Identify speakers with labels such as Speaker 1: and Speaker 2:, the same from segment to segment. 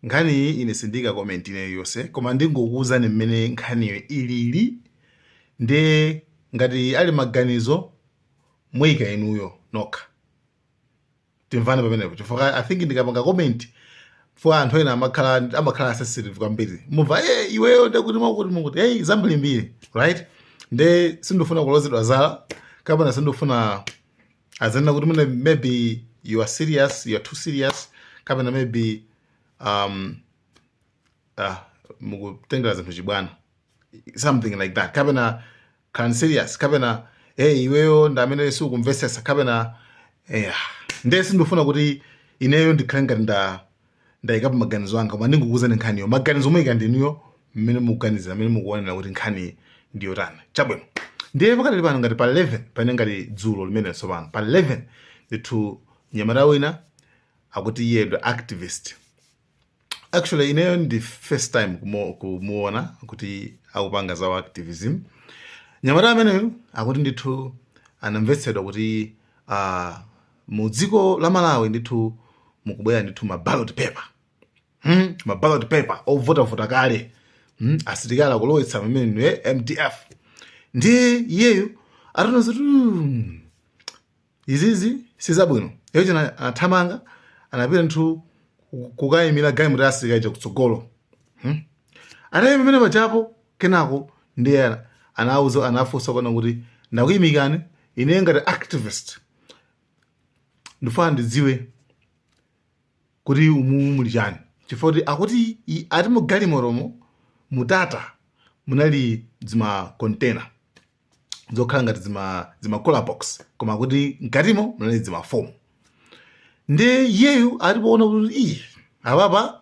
Speaker 1: Nkhaniyi ine sindiika comment ina iliyonse koma ndingokuwuzani mmene nkhaniyo ilili nde ngati muli maganizo muyika inuyo nokha timvane pamenepo chifukwa i think ndikapanga comment for anthu ena amakhala amakhala sensitive kwambiri mumva ye iweyo ndekuti mwakuti mukuti hey zambirimbiri right nde sindifuna kulozedwa zala kapena sindifuna adzanena kuti mwina maybe you are serious you are too serious kapena maybe um, uh, mukutengera zinthu chibwana something like that kapena can serious kapena hey iweyo ndi amene siukumvesesa kapena yeah. ndiye sindifuna kuti ineyo ndikhale ngati nda ndayikapo maganizo anga koma ndingokuuzani nkhaniyo maganizo muyika ndinuyo mmene mukuganiza mmene mukuonera kuti nkhani ndi yotani chabwino ndiye pakadali pano ngati pa 11 pamene ngati dzulo limene tsopano pa 11 ndithu nyamata wina akuti iye ndi activist actually ineyo ndi first time kumo- kumuona kuti akupanga za activism nyamata ameneyo akuti ndithu anamvetsedwa kuti uh, mu dziko la malawi ndithu mukubwera ndithu ma ballot paper hmm? ma ballot paper ovotavota kale hmm? asilikali akulowetsa pamene eh, mdf ndiye iyeyo ataona kuti hmm, izizi sizabwino iyo china anathamanga anapita ndithu ku- kukayimira galimoto ya asilikali chakutsogolo hmm? atayima pamene pachapo kenako ndiye ana- anauza anafunsa kunena kuti ndakuyimikani ine ngati activist ndifuna ndidziwe kuti umu muli chani chifukwa kuti akuti i- ati mu galimotomo mutata munali dzima container zokhala ngati dzima dzima cooler box koma kuti mkatimo munali dzima form ndiye iyeyu ati poona kuti iyi apapa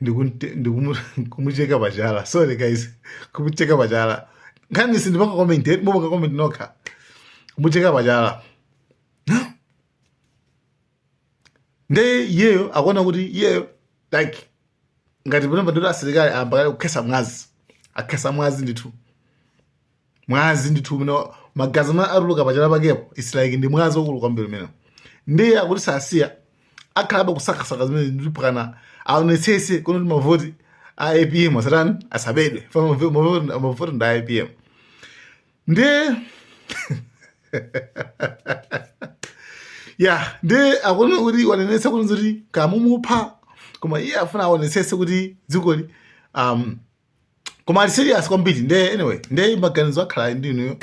Speaker 1: ndikumucheka pachala sorry guys kumucheka pachala nkhani sindipanga comment eh, mupanga comment nokha kumucheka pachala nde iyeyo akuona kuti iyeyo like ngati pano pa dothi asilikali ayamba kale kukhesa mwazi akhesa mwazi ndithu mwazi ndithu umene wa- magazi amene atuluka pachala pakepo its like ndi mwazi wakulu kwambiri umenewo ndiye akuti sasiya akhalabe kusakasaka zimene mpakana aonetsese kunoti mavoti a apm asatani asabedwe Fa mavo- mavo- mavoti ndi a apm ndiye ya ndi akunena kuti wanenetsa kuti zoti kamumupha koma iye afuna aonetsese kuti dzikoli um, koma ali serious kwambiri nde anyway nde maganizo akhala ali ndinuyo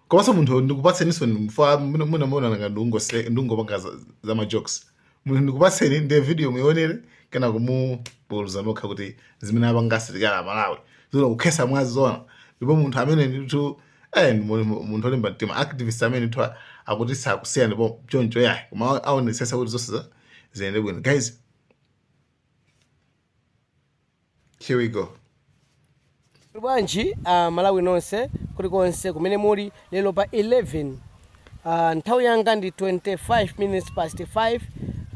Speaker 1: komanso munthu ndikupatseniso fa mwina muona ngati ndungo ndungopanga za, za majokes munthu ndikupatseni nde video muionere kena kukapuluza nokha kuti zimene apanga asilikali a malawi zona kukhesa mwazi zona ndipo munthu amene ndithu eh, ndi mu- mu- munthu olimba mtima activist amene ndithu a- akuti sakusiya ndi pa choncho yayi koma aonesesa kuti zonse za- ziyende bwino guys Here we go.
Speaker 2: Muli bwanji a Malawi nonse kulikonse kumene muli lero pa 11 ah, nthawi yanga ndi 25 minutes past 5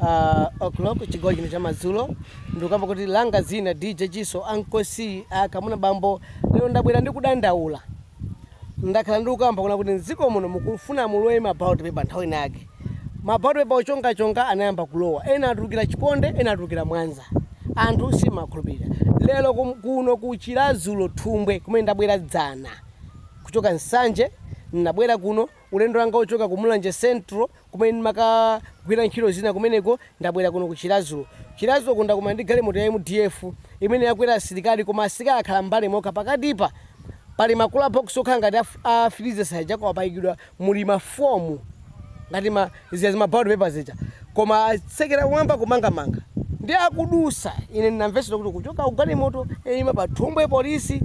Speaker 2: ah, o'clock chigawo chino chamadzulo ndikukamba kuti langa zina dj kiso ankosi akamuna bambo lero ndabwera ndi kudandaula ndakhala ndikukamba kuna kuti mdziko muno mukufuna mulowe ma ballot paper nthawi ina yake ma ballot paper ochonga chonga anayamba kulowa ena atulukira chiponde ena atulukira mwanza anthu simakhulupirira lero kum, kuno ku chiladzuro thumbwe kumene ndabwera dzana kuchoka nsanje ndinabwera kuno Ulendo wanga wochoka ku Mulanje Central kumene ndimakagwira ntchito zina kumeneko ndabwera kuno ku Chiladzuro. Chiladzuroku ndakumana ndi galimoto ya MDF imene yakwera asilikali koma asilikali akhala m'mbali mokha. Pakatipa pali ma cooler box okhala ngati a freezer aja koma paikidwa muli ma foam ngati ma. zija zima ballot paper zija koma atsekera kumwamba kumangamanga ndi akudusa ine ndinamvetsera kuti kuchoka kugalimoto yaima pa thumbwe polisi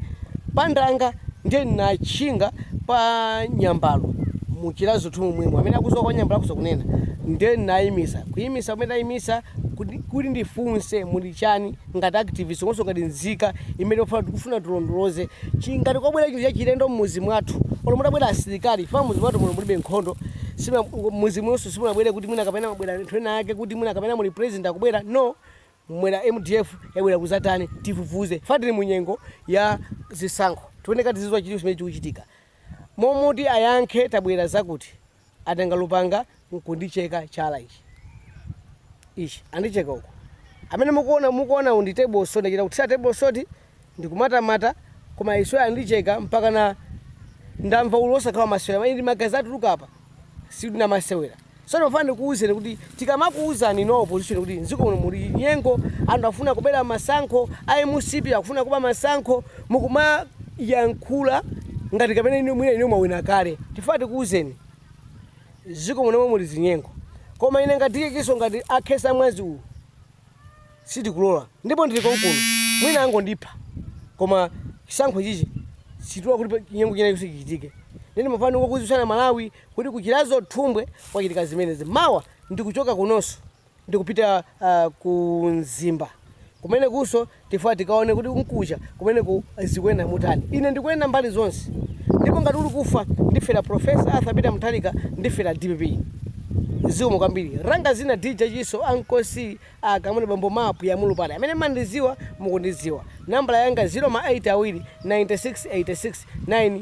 Speaker 2: pandanga ndiye ndinatchinga pa nyambalo muchiladzuro momwemo amene akuziwa kwa nyambalo akuziwa kunena ndiye ndinayimisa kuyimisa kumene ndayimisa kuti kuti ndifunse muli chani ngati activist komanso ngati nzika imene tikufuna tikufuna tilondoloze chi ngati kwabwera chinthu chachilendo mmuzi mwathu olo mutabwera asilikali chifukwa mmuzi mwathu muno mulibe nkhondo sima mmuzi munonso simunabwere kuti mwina kapena mwabwera anthu ena ake kuti mwina kapena muli president akubwera kuno kumwera mdf yabwera kuzatani tifufuze fa tili munyengo ya zisankho tiyeneka tiziwa chilipo chimene chikuchitika momoti ayankhe tabwera kuzatani atenga lupanga n'kundicheka chala ichi, ichi, andicheka uku. Amene mukuo, mukuonawu ndi table salt, ndachita kuthira table salt ndikumatamata, koma iwowa andicheka mpakana ndamva ululu wosakhala wamasewera, eyi ndi magazi atuluka apa, sindinamasewera. Tsono ndimafuna ndikuuzeni kuti Tikamakuuzani inu a opposition kuti mziko muno muli chinyengo anthu akufuna kubera masankho a mcp akufuna kuba masankho mukumayankhula ngati kapena inu mwina inu mwawina kale tifuna tikuuzeni mziko muno mommuno muli zinyengo koma ine ngati kiso ngati akhesa mwazi uwu sitikulola ndipo ndili konkuno mwina angondipha koma chisankho chino sitilola kuti pa- chinyengo china chonse chichitike ineyo ndimafuna ndikuziwitseni a malawi kuti ku Chiradzulu Thumbwe kwachitika zimenezi. Mawa ndikuchoka kunonso ndikupita ku Mzimba kumenekunso tifuna tikaone kuti kukacha kumeneko zikuyenda motani. Ine ndikuyenda mbali zonse ndipo ngati uli kufa ndifera Prof. Arthur Peter Mutharika ndifera dpp. Zikomo kwambiri. Langa dzina DJ Chiso Uncle C A Kamwendo Bambo Map Ya Mulupale Amene mumandidziwa mukundidziwa. Nambala Yanga 0 ma 8 awiri 96 86 9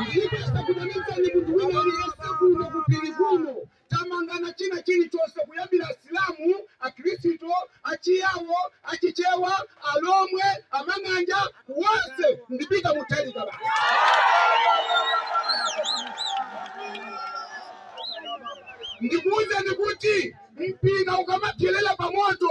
Speaker 3: ndikusakumanizani munthu wina aliyense kuno kupiri kuno tamangana china chilichonse kuyambira asilamu akhristu achiyawo achichewa alomwe amang'anja wonse ndi Peter Mutharika basi ndikuuzeni kuti mphika ukamapsyerera pamoto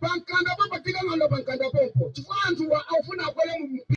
Speaker 3: pa mkanda pompo tikangonda pa mkanda pompo chifukwa anthuwa akufuna akwere mu mpira